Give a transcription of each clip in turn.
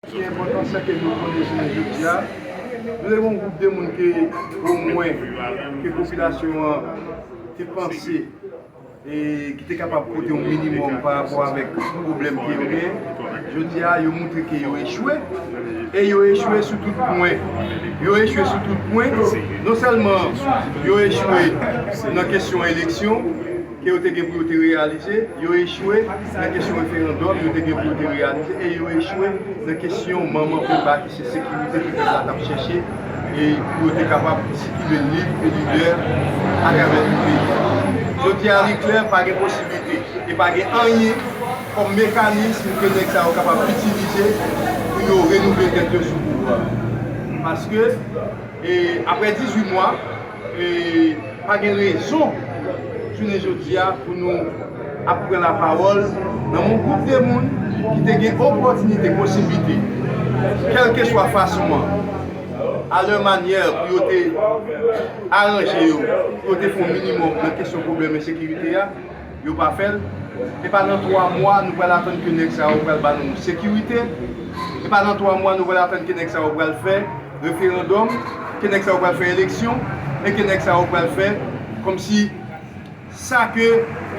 Ki enpòtans sa ke nou konnen jounen jodi a? Nou te gen yon gwoup de moun ke omwen ke popilasyon an te panse e ki te kapab pote yon minimòm pa rapò avèk pwoblèm ke yo gen. Jodi a yo montre ke yo echwe e yo echwe sou tout pwen. Yo echwe sou tout pwen. Non sèlman yo echwe nan kesyon eleksyon. ke yo te gen pou yo te reyalize, yo echwe nan kesyon referandòm yo te gen pou yo te reyalize e yo echwe nan kesyon manman penba ki se sekirite ke pèp la t ap chèche e pou yo te kapab sikile lib e libè atravè tout peyi a. Jodi a li klè pa gen posiblite e pa gen anyen kòm mekanism ke nèg sa yo kapab itilize pou yo renouvle tèt yo sou pouvwa a. Paske e aprè 18 mwa. pa gen rezon jounen jodi a pou nou ap pran lapawòl nan yon gwoup de moun ki te gen opòtinite, posiblite, kèlkeswa fason an, a lè manyè pou yo te aranje yo, pou yo te fè yon minimòm nan kesyon pwoblèm ensekirite a. Yo pa fèl, e pa nan 3 mwa nou pral atann ke nèg sa yo pral ba nou sekirite, e pa nan 3 mwa nou pral atann ke nèg sa yo pral fè referandòm, ke nèg sa yo pral fè eleksyon, e ke nèg sa yo pral fè kòmsi sa ke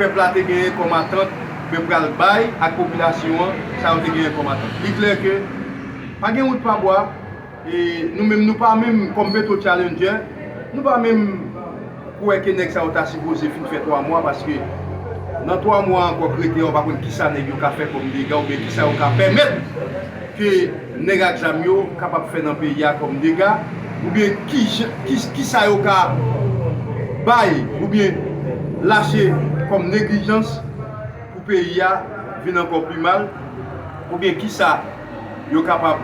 pèp la te genyen kòm atant yo pral bay ak popilasyon an sa yo te genyen kòm atant. Li klè ke pa gen wout pa bwa. E nou menm nou pa menm kòm Petro Challenger, nou pa menm kwè ke nèg sa yo ta sipoze fin fè 3 mwa paske nan 3 mwa ankò k rete a ou pa konn kisa nèg yo ka fè kòm dega oubyen kisa yo ka pèmèt ke nèg ak zam yo kapab fè nan peyi a kòm dega oubyen kijan kisa yo ka bay oubyen lache kòm neglijans pou peyi a vin ankò pi mal oubyen kisa. yo kapab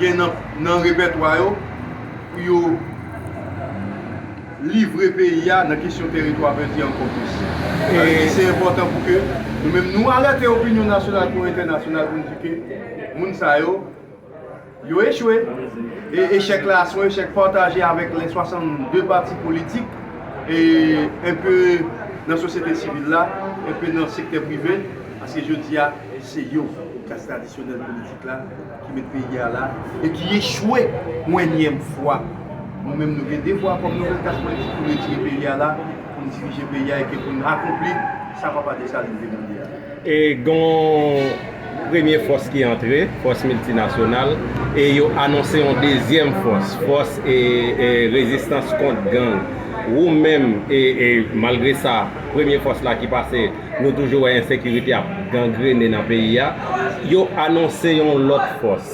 gen nan repètwa yo pou yo livre peyi a nan kesyon teritwa vèdi ankò plis. Sa vle di se enpòtan pou ke nou menm nou alète opinyon nasyonal kou entènasyonal pou nou di ke moun sa yo, yo echwe e echèk la se yon echèk pataje avèk lè 62 pati politik e enpe nan sosyete sivil la, enpe nan sektè prive. Paske jodi a, se yo, klas tradisyonèl politik la, ki met peyi a la, e ki echwe yon ènyèm fwa. Nou menm nou gen devwa kòm nouvèl klas politik pou n retire peyi a la, pou n dirije peyi a e ke pou n akonpli sa Papa Desalin te mande a. E gen yon premye fòs ki antre, fòs miltinasyonal, e yo anonse yon dezyèm fòs, fòs rezistans kont gang. Ou menm, e malgre sa, premye fòs la ki pase, nou toujou wè ensekirite ap gangrene nan peyi a, yo anonse yon lòt fòs.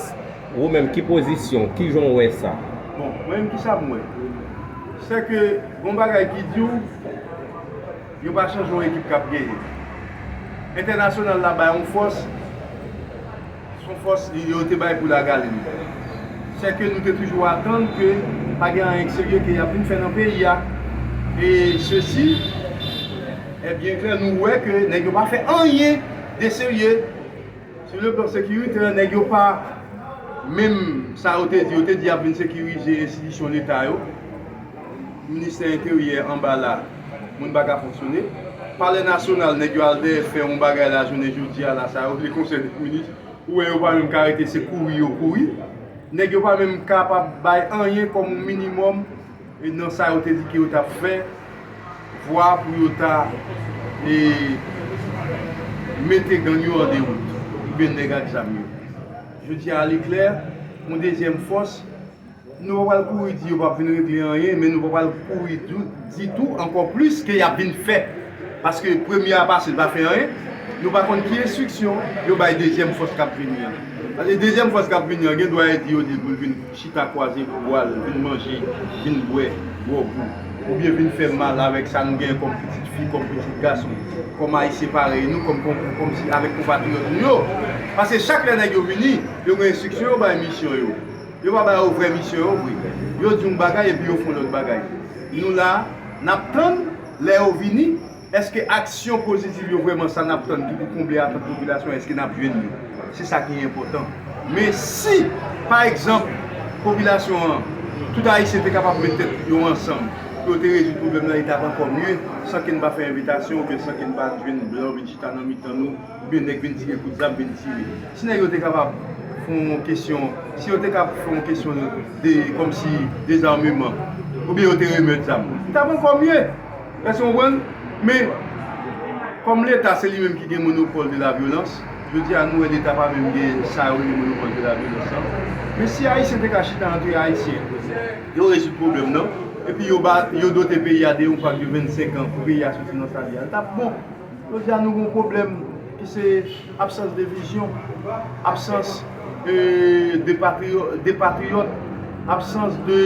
Wou menm ki pozisyon w, kijan w wè sa? Bon, mwen menm kisa m wè? Sè ke gon bagay ki di w, yo pa chanje yon ekip k ap genyen. Entènasyonal la bay yon fòs. Son fòs yo te bay pou lagale nou. Sè ke nou te toujou atann ke pa gen anyen serye ke y ap vin fè nan peyi a. E sesi è byen klè, nou wè ke nèg yo pa fè anyen de serye. Sou le plan sekiritè, nèg yo pa menm sa yo te di. Yo te di y ap vin sekirize enstitisyon leta yo, ministè enteryè anba la. Moun pa ka fonksyone. Palè nasyonal nèg yo al dèyè fè yon bagay la jounen jodi a la sa yo vle konsèy tout minis ou wè yo pa menm ka rete se kouri yo kouri. Nèg yo pa menm kapab bay anyen kòm yon minimòm nan sa yo te di ke yo t ap fè vwa pou yo ta e mete gang yo an dewout oubyen nèg ak zam yo. Jodi a li klè yon dezyèm fòs. Nou pa pral kouri di yo pap vin regle anyen men nou pa pral kouri di tou ankò plis ke yap vin fè paske premye a pase li pa fè anyen nou pa konn ki enstriksyon yo bay dezyèm fòs kap vini an paske dezyèm fòs kap vini an gen dwa yo di yo di poul vin chita kwaze bwal vin manje vin bwè gwòg ou oubyen vin fè mal avèk sa nou gen kòm pitit fi kòm pitit gason kòm ayisyen parèy nou kòm avèk konpatriyòt nou yo paske chak lè nèg yo vini yo gen enstriksyon yo bay misyon yo. Yo pa ba yo vrè misyon yo vre. Yo di yon bagay epi yo fè yon lòt bagay. Nou la, n ap tann, lè yo vini, èske aksyon pozitiv yo vrèman sa n ap tann ki pou konble atant popilasyon an, èske n ap jwenn li? Se sa ki enpòtan. Men si, pa egzanp, popilasyon an, tout Ayisyen te kapab met tèt yo ansanm pou yo te rezoud pwoblèm nan, li t ap ankò mye, san ke n pa fè envitasyon oubyen san ke n pa jwenn blan vin chita nan mitan nou, Ou byen nèg vin di gen kout zam vin tire. Si nèg yo te kapab fè yon kesyon, si yo te ka fè yon kesyon de kòmsi dezarmeman ou byen yo te remèt zam, li tap ankò mye. Èske nou konprann? Men, kòm leta se li menm ki gen monopòl de la vyolans, jodi a nou wè leta pa menm gen sa yo rele monopòl de la vyolans lan. Men si ayisyen te ka chita antre ayisyen, yo rezoud pwoblèm nan, epi yo dote peyi a de yon pak de 25 an pou peyi a soti nan sa li a, li tap bon. Jodi a nou gen yon pwoblèm ki se absans de vizyon, absans de patriyòt, absans de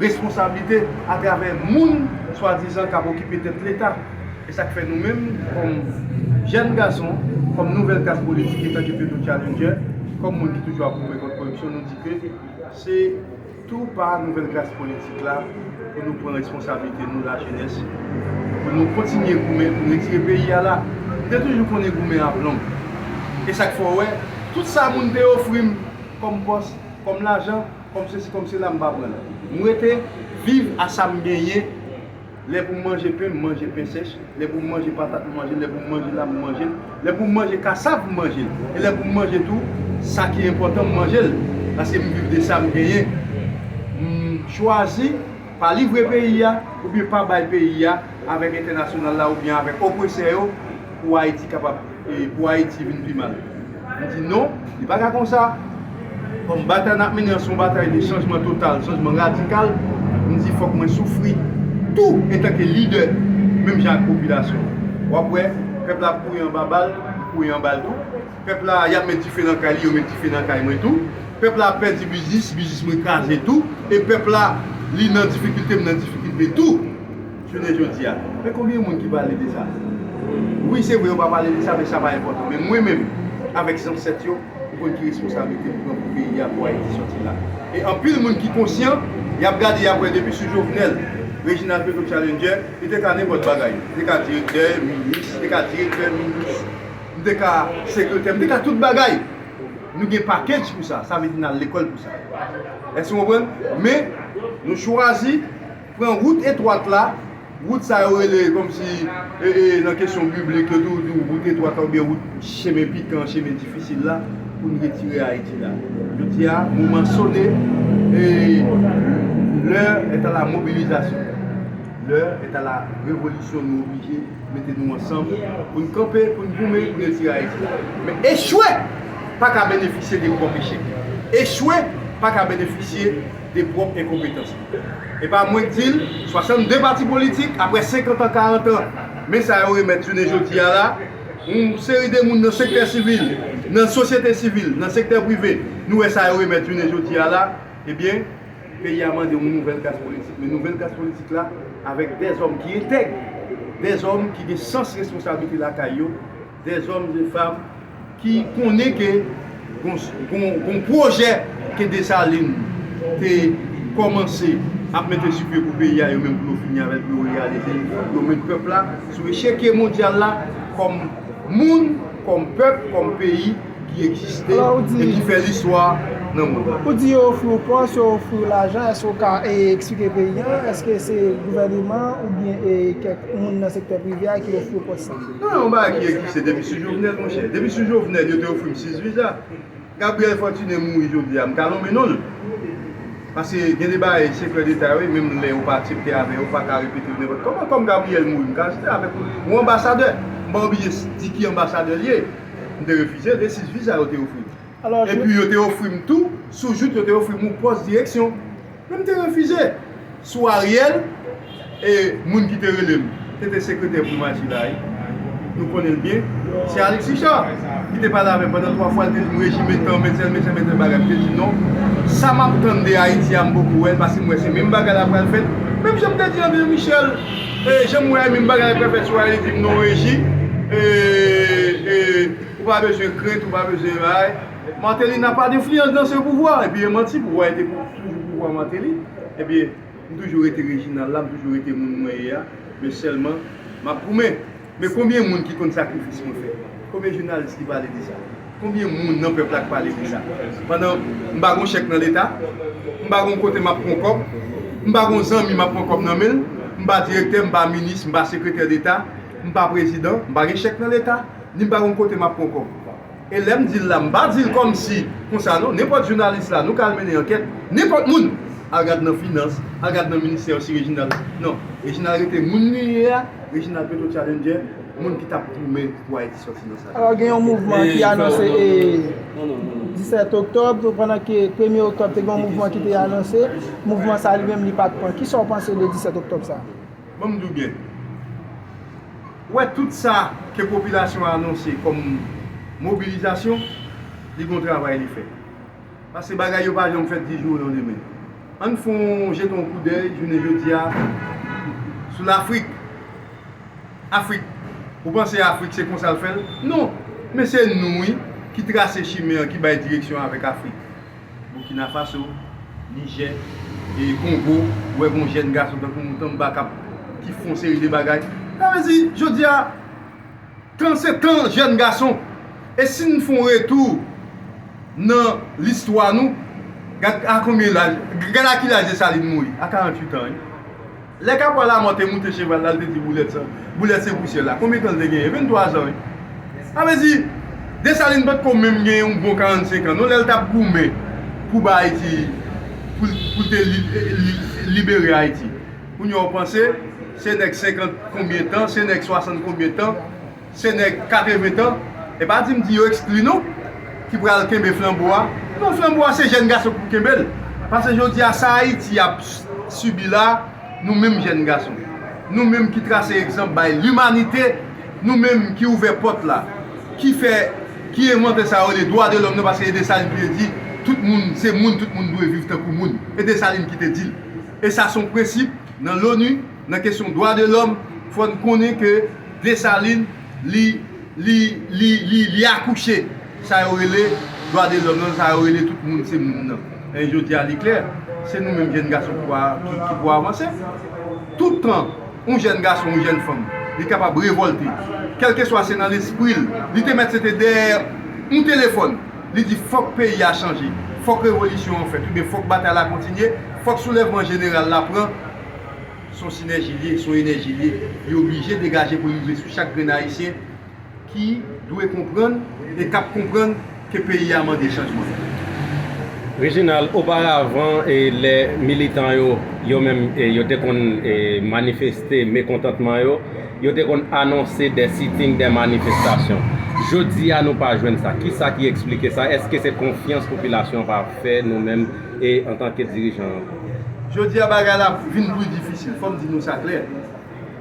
responsablite atravè moun swadizan k ap okipe tèt Leta. E sa k fè nou menm kòm jèn gason, kòm nouvèl klas politik etan ke Petro Challenger, kòm moun ki toujou ap goumen kont koripsyon nou di ke se. Tou pa nouvèl klas politik la pou nou pran responsablite nou lajenès pou nou kontinye goumen pou n retire peyi a la. M te toujou konnen goumen a plonb. E sa k fè w wè tout sa moun te ofri m kòm pòs, kòm lajan, kòm sesi kòm sela m pa pran l. M rete viv a sa m genyen. Lè pou m manje pen, m manje pen sèch. Lè pou m manje patat, m manje l. Lè pou m manje lam, m manje l. Lè pou m manje kasav, m manje l. E lè pou m manje tou, sa ki enpòtan, m manje l. Paske m viv de sa m genyen. M chwazi pa livre peyi a oubyen pa bay peyi a avèk entènasyonal la oubyen avèk opresè yo pou Ayiti kapab. Pou Ayiti vin pi mal. Li di non, li pa ka konsa. Kòm batay n ap mennen an se yon batay de chanjman total, chanjman radikal, m di fòk mwen soufri tou antanke lidè menm jan ak popilasyon an. W ap wè pèp la ap kouri anba bal, m kouri anba l tou. Pèp la, y ap met dife nan kay li, yo met dife nan kay mwen tou. Pèp la ap pèdi biznis, biznis mwen kraze tou. E pèp la, li nan difikilte, m nan difikilte tou. Jounen jodi a. Men konbyen moun ki pale de sa? Wi se vre yo pa pale de sa men sa pa enpòtan. Men mwen menm avèk zansèt yo, nou konn ki responsablite nou pran pou peyi a, pou Ayiti sòti la. E anpil moun ki konsyan, y ap gade y ap wè depi sou Jovenel, Reginald Petro Challenger, li te ka nenpòt bagay. Li te ka direktè, minis, li te ka direktè, minis, li te ka sekretè, li te ka tout bagay. Nou gen package pou sa. Sa vle di n al lekòl pou sa. Èske nou konprann? Men nou chwazi. Pran wout etwat la, wout sa yo rele kòmsi nan kesyon biblik yo toujou di w wout etwat la oubyen wout chemen pikan, chemen difisil la pou n retire Ayiti la. Jodi a, moman sone e L'heure est à la mobilisation. L'heure est à la révolution nou oblije mete nou ansanm pou n kanpe, pou n goumen pou n retire Ayiti la. Men echwe pa ka benefisye de pwòp echèk. Echwe pa ka benefisye. de pwòp enkonpetans li. E pa mwen k di l, 62 pati politik, aprè 50 an, 40 an, men sa yo remèt jounen jodi a la, yon seri de moun nan sektè sivil, nan sosyete sivil, nan sektè prive, nou wè sa yo remèt jounen jodi a la, ebyen, peyi a mande yon nouvèl klas politik. Men nouvèl klas politik la, avèk dèzòm ki entèg, dèzòm ki gen sans responsablite lakay yo, De zòm, de fam ki konnen ke gon pwojè ke Desalin te kòmanse ap mete sou pye pou peyi a, yo menm pou yo fini avè l, pou yo reyalize l, pou yo met pèp la sou echekye mondyal la kòm moun, kòm pèp, kòm peyi ki egziste e ki fè listwa nan mond lan. Ou di yo ofri w pòs, yo ofri w lajan, èske ou ka eksplike peyi an, èske se gouvèneman oubyen kèk moun nan sektè prive a ki ofri w pòs sa? Non yon bagay ki egziste depi sou Jovenel monchè. Depi sou Jovenel yo te ofri m 6 viza. Gabriel Fortuné mouri jodi a m ka lonmen non l. Pase gen de bagay sekrè deta wi menm lè ou pa aksepte avè yo ou pa ka repete yo nenpòt kòman. Kòm Gabriel mouri m ka aksepte avèk ou. Yon anbasadè m pa oblije di ki anbasadè l ye. M te refize l e 6 viza yo te ofri m. Epi yo te ofri m tou sou jout yo te ofri m yon pòs direksyon. Men m te refize. Sou Ariel e moun ki te rele l, se te sekretè primati la wi. Nou konnen l byen. Se Alix Richard ki te pale avè m pandan 3 fwa, li te di m rejim men tan, men tèl, men tèl, men tèl bagay. M te di non, sa m ap tann de Ayiti a m poko wè l paske m wè se menm bagay la pral fèt. Menm jan m te di André Michel, e jan m wè a menm bagay la pral fèt sou Ayiti m non reji e e ou pa bezwen krent, ou pa bezwen bay. Martelly n'a pas d'influence dans ce pouvoir epi e manti pouvoir te toujou pouvoir Martelly epi m toujou rete Reginald la m toujou rete moun mwen ye a men sèlman m'ap goumen men konbyen moun ki konn sakrifis mwen fè konbyen jounalis ki pale de sa konbyen moun nan pèp la k pale de sa pandan m pa gon chèk nan leta m pa gon kote m'ap pran kòb m pa gon zanmi m'ap pran kòb nan men'l m pa direktè m pa minis m pa sekretè deta m pa prezidan m pa gen chèk nan leta ni m pa gon kote m'ap pran kòb. E lèm dil la m pa dil kòmsi konsa non, nenpòt jounalis la nou ka al mennen ankèt, nenpòt moun, al gad nan finans, al gad nan ministè yo si Reginald non, Reginald rete moun li ye a, Reginald petro challenger, moun ki tap goumen pou Ayiti sòti nan sa. Alò gen yon mouvman ki anonse 17 oktòb, pandan ke premye oktòb te gen yon mouvman ki te anonse, mouvman sa li menm li pat pran. Kisa w panse de 17 oktòb sa? Bon m di w byen. Ou wè tout sa ke popilasyon an anonse kòm mobilizasyon, li gon travay li fè. Paske bagay yo pa janm fèt di jou yon demen. Ann fè yon jete yon koudèy jounen jodi a sou Lafrik. Afrik, ou panse Afrik se konsa l fè l? Non! Men se nou wi ki trase chimen an ki bay direksyon avèk Afrik. Burkina Faso, Niger, e Congo, ou wè gon jèn gason tankou Mutamba kap ki fon seri de bagay. Sa vle di, jodi a, tan se tan jèn gason. E si n fon retou nan listwa nou, gad a konbyen laj, gad a ki laj Dessalines mouri, a 48 ans wi. Lè kapwa Lamò te moute cheval la, l te di Boulèt sa, Boulèt se Pousyè la, konbyen tan l te genyen? Venntwa zan wi. Sa vle di, Desalin pa t ko menm gen yon bon karannsenk an non lè l t ap goumen pou ba Ayiti, pou l te libere Ayiti. Kounye a w panse, se nèg senkant konbyen tan, se nèg swasant konbyen tan. Se nèg 80 tan, e pa di m di yo ekskli non, ki pral kenbe flanbo a. Non flanbo a se jèn gason ki pou kenbe l. Pase jodi a sa Ayiti ap sibi la, nou menm jèn gason, nou menm ki trase egzanp bay limanite, nou menm ki ouvè pòt la, ki fè, ki envante sa yo rele dwa de lòm nan pase e Desalin ki te di tout moun se moun, tout moun dwe viv tankou moun. E Desalin ki te di l. E sa son prensip nan Loni. Nan kesyon dwa de lòm fò n konnen ke Desalin li li li li li akouche sa yo rele dwa de lòm lan sa yo rele tout moun se moun lan. E jodi a li klè se nou menm jenn gason ki pou ki pou avanse. Tout tan yon jenn gason yon jenn fanm li kapab revòlte kèlkeswa se nan lespri l li te mèt se te dèyè yon telefòn li di fòk peyi a chanje fòk revolisyon an fèt oubyen fòk batay la kontinye fòk soulèvman jeneral la pran S on sinèji l ye, s on enèji l ye, li oblije degaje pou l rive sou chak grenn Ayisyen ki dwe konprann e k ap konprann ke peyi a mande chanjman. Reginald, Oparavan lè militan yo, yo menm, yo te konn manifeste mekontantman yo, yo te konn anonse dè sitting, dè manifestasyon. Jodi a nou pa jwenn sa. Kisa ki eksplike sa? Èske se konfyans popilasyon an pa fè nou menm antanke dirijan? Jodi a bagay la vin pli difisil, fòm di nou sa klè.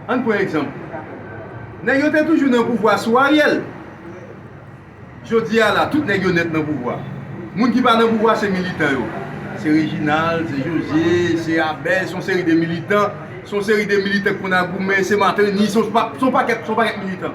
Ann pran egzanp. Nèg yo te toujou nan pouvwa sou Ariel. Jodi a la, tout nèg yo nèt nan pouvwa. Moun ki pa nan pouvwa se militan yo. Se Reginald, se José, se Abel, son seri de militan, son seri de militan ki konn a goumen, se Martelly, son pakèt, son pakèt militan.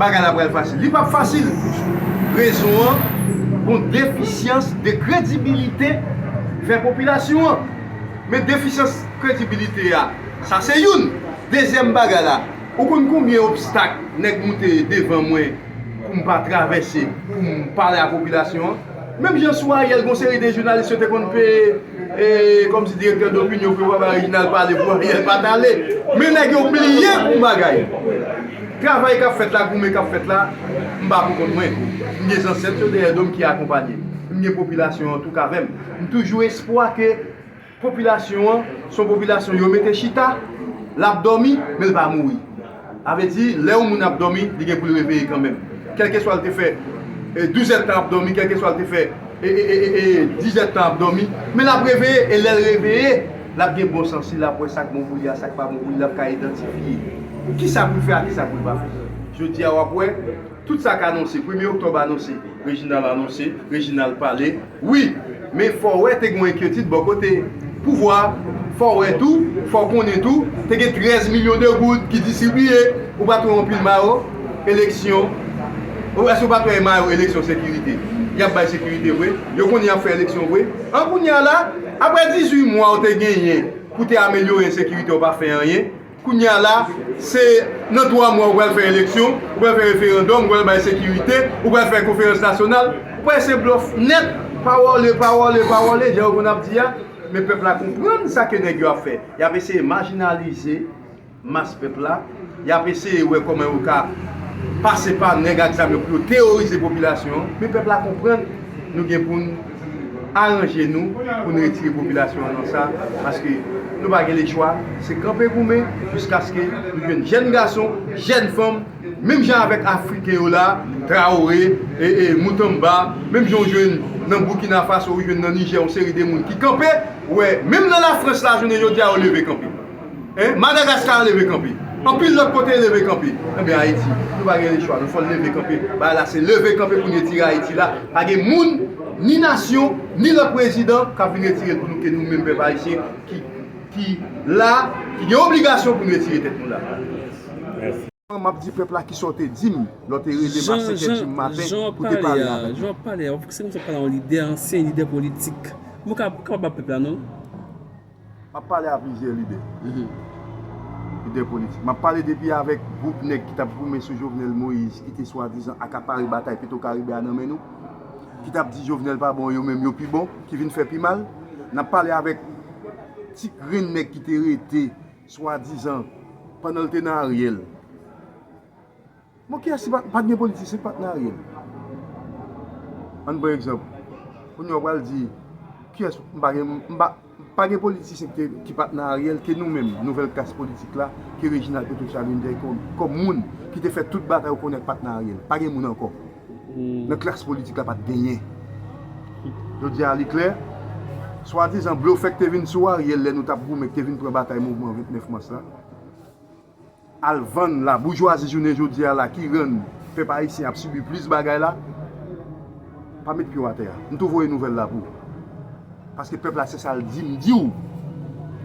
Bagay la pral fasil. Li pap fasil! Rezon an, gon defisyans de kredibilite fè popilasyon an. Men defisyans kredibilite a, sa se youn. Dezyèm bagay la, ou konn konbyen obstak nèg moute devan mwen pou m pa travèse, pou m pale a popilasyon an? Menm jan sou Ariel gon seri de jounalis yo te konn peye. E komsi direktè dopinyon fè wè Reginald pale pou Ariel pat ale. Men nèg yo bliye yon bagay. Travay kap fèt la, goumen kap fèt la, m pa pou kont mwen. M gen zansèt yo dèyè dom ki akonpanye m. M gen popilasyon an touk avè m. M toujou espwa ke popilasyon an son popilasyon yo mete chita, lap dòmi, men l pa mouri. Sa vle di, lè yon moun ap dòmi, li gen pou l reveye kanmenm. Kèlkeswa l te fè douzèdtan ap dòmi, kèlkeswa l te fè dizèdtan ap dòmi, men l ap reveye. E lè l reveye, l ap gen bon sans. Si l ap wè sa k bon pou li a, sa k pa bon pou li, l ap ka idantifye ki sa pou l fè ak ki sa pou l pa fè. Jodi a, w ap wè. Tout sa k anonse, premye oktòb anonse, Reginald anonse, Reginald pale, wi, men fò w wè te gen yon enkyetid bò kote pouvwa a, fò w wè tou, fò w konnen tou, te gen 13 milyon de goud ki distribiye, ou pa t wè yon pil mayo eleksyon, èske ou pa t wè mayo eleksyon sekirite, y ap bay sekirite vre, yo konnen y ap fè eleksyon vre, an kounye a la, aprè 18 mwa ou te genyen pou te amelyore ensekirite ou pa fè anyen. Kounye a la, se nan 3 mwa ou pral fè eleksyon, ou pral fè referandòm, ou pral bay sekirite, ou pral fè konferans nasyonal. Ou pa wè se blòf nèt, pawòle, pawòle, pawòle, jan yo konn ap di a. Men pèp la konprann sa ke nèg yo ap fè. Y ap eseye majinalize mas pèp la, y ap eseye wè kòman yo ka pase pa nèg ak zam yo pou yo teworize popilasyon an. Men pèp la konprann nou gen pou n. aranje nou pou n retire popilasyon an nan sa paske nou pa gen lechwa se kanpe goumen jiskaske nou jwenn jèn gason, jèn fanm menm jan avèk afriken yo la Traoré, Mutamba menm jan ou jwenn nan Burkina Faso ou jwenn nan Niger yon seri de moun ki kanpe wè menm nan Lafrans la jounen jodi a yo leve kanpe. Madagascar leve kanpe. Anpil lòt kote leve kanpe. Enben Ayiti nou pa gen lechwa nou fò'n leve kanpe. Bagay la se leve kanpe pou n retire Ayiti la. Pa gen moun, ni nasyon, ni lòt prezidan kap vin retire l pou nou ke nou menm pèp Ayisyen ki la, ki gen obligasyon pou n retire tèt nou la. Map di pèp la kisa w te di m lè w te rele m a 5 è di maten pou te pale avè m. Jan wap pale a, se kòm si wap pale a yon lidè, ansyen lidè politik. Mwen pa kapab ap pale a pèp la non. M ap pale a plizyè lidè, lidè politik. M ap pale depi avèk gwoup nèg ki t ap goumen sou Jovenel Moïse ki te swadizan akapare batay Petwokaribe a nan men nou, ki t ap di Jovenel pa bon, yo menm yo pi bon, ki vin fè pi mal. N ap pale avèk ti grenn nèg ki te rete swadizan pandan l te nan Ariel. Bon kiyès ki pat gen politisyen ki pat nan Ariel? Ann pran egzanp, kounye a w pral di kiyès m pa gen m pa pa gen politisyen ki pat nan Ariel ke nou menm nouvèl klas politik la ke Reginald Peto Chavinne te kòm kòm moun ki te fè tout bagay ou konnen pat nan Ariel. Pa gen moun ankò nan klas politik la pat genyen. Jodi a li klè, swadizan blofè ki te vin sou Ariel lè nou tap goumen ki te vin pran batay mouvman 29 mas la, al vann la boujwazi jounen jodi a la ki rann pèp ayisyen ap sibi plis bagay la pa met pye w atè a m tou voye nouvèl la pou paske pèp la se sa l di m di w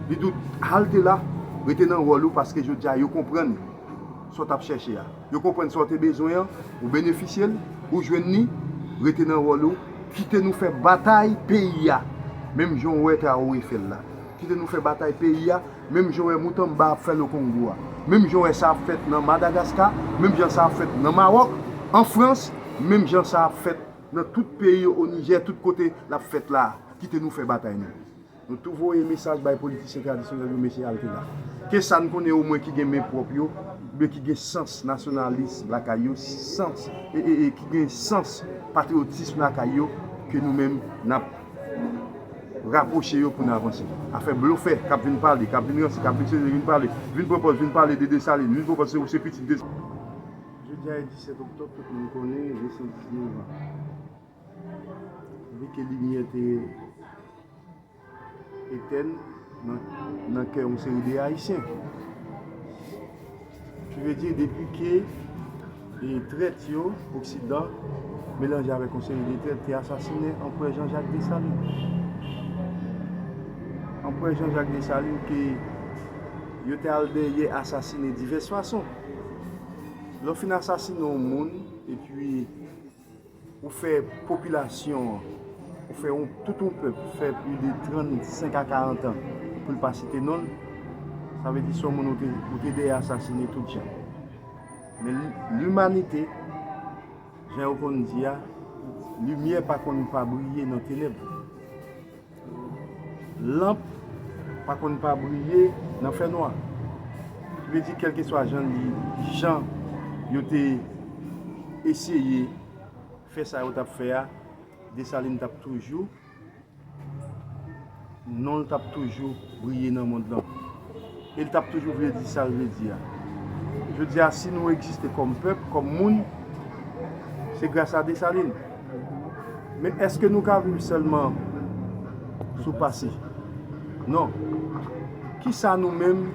li di w halte la rete nan wòl ou paske jodi a yo konprann sa w t ap chèche a yo konprann sa w te bezwen an ou benefisye l ou jwenn ni rete nan wòl ou kite nou fè batay peyi a menm jan w wè Traoré fè l la kite nou fè batay peyi a. Menm jan w wè Mutamba ap fè nan Kongo a, menm jan w wè sa ap fèt nan Madagaska, menm jan sa ap fèt nan Mawòk, an Frans, menm jan sa ap fèt nan tout peyi yo, o Nijè, tout kote l ap fèt la a, kite nou fè batay nou. Nou tou voye mesaj bay politisyen tradisyonèl yo mesye alte la. Ke sa n konnen omwen ki gen men pwòp yo, oubyen ki gen sans nasyonalis lakay yo, sans, e, e, e, ki gen sans patriyotism lakay yo, ke nou menm n ap. Rapwoche yo pou n avanse. Afè blofè k ap vin pale, k ap vin ranse, k ap vin sezi, vin pale, vin pran pòz, vin pale de Desalin, vin pran pòz se ou se pitit Desalin. Jodi a e 17 oktòb tout moun konnen li se 19 an depi ke limyè te etèn nan kè yon seri de Ayisyen. Ki vle di depi ke trèt yo, oksidan, melanje avèk yon seri de trèt te asasinen anprè Jan Jak Desalin. Anprè Jan Jak Desalin ke yo te al dèyè asasinen divès fason. Lè w fin asasinen yon moun epi Ou fè popilasyon an, ou fè yon tout yon pèp fè pli de 35 a 40 an pou l pa site non l, sa vle di se yon moun ou te dèyè asasine tout jan. Men limanite, jan yo konn di a, limyè pa konn pa briye nan tenèb. Lanp pa konn pa briye nan fè nwa. Ki vle di kèlkeswa jan li jan yo te eseye fè sa yo t ap fè a, Desalin t ap toujou, non l t ap toujou briye nan mond lan. E l t ap toujou vle di sa l vle di a. Jodi a si nou egziste kòm pèp, kòm moun, se grasa Desalin. Men èske nou ka viv sèlman sou pase? Non. Ki sa nou menm,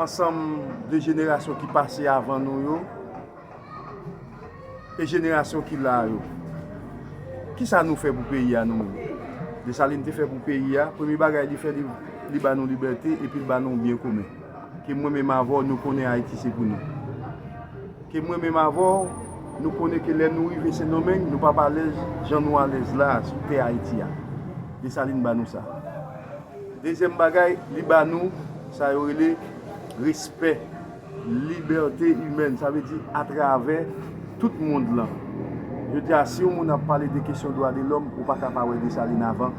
ansanm de jenerasyon ki pase avan nou yo, e jenerasyon ki la a yo, ki sa nou fè pou peyi a nou menm? Desalin te fè pou peyi a, premye bagay li fè, li ba nou libète epi li ba nou byen komen. Ke mwen menm avè w nou konnen Ayiti se pou nou. Ke mwen menm avè w, nou konnen ke lè nou rive Sendomeng, nou pap alèz jan nou alèz la a sou tè Ayiti a. Desalin ba nou sa. Dezyèm bagay, li ba nou sa yo rele respè, libète imèn. Sa vle di atravè tout mond lan. Jodi a, si yon moun ap pale de kesyon dwa de lòm, ou pa ka pa wè Desalin avan.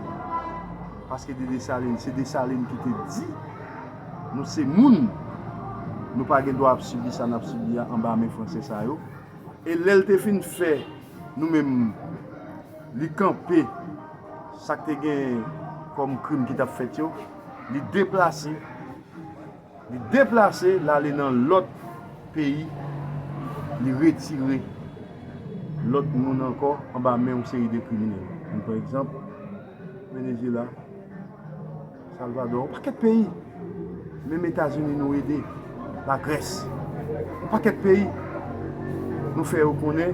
Paske de Desalin, se Desalin ki te di. Nou se moun, nou pa gen dwa ap sibi sa nap sibi a anba men franse sa yo. E lèl te fin fè nou menm li kanpe sak te gen kòm krim ki tap fèt yo, li deplase, li deplase lale nan lòt peyi, li retire lòt moun ankò anba men yon seri de kriminèl. Ann pran egzanp Venezyela. Salvador yon pakèt peyi menm etazini nou ede la grès yon pakèt peyi nou fè yo konnen.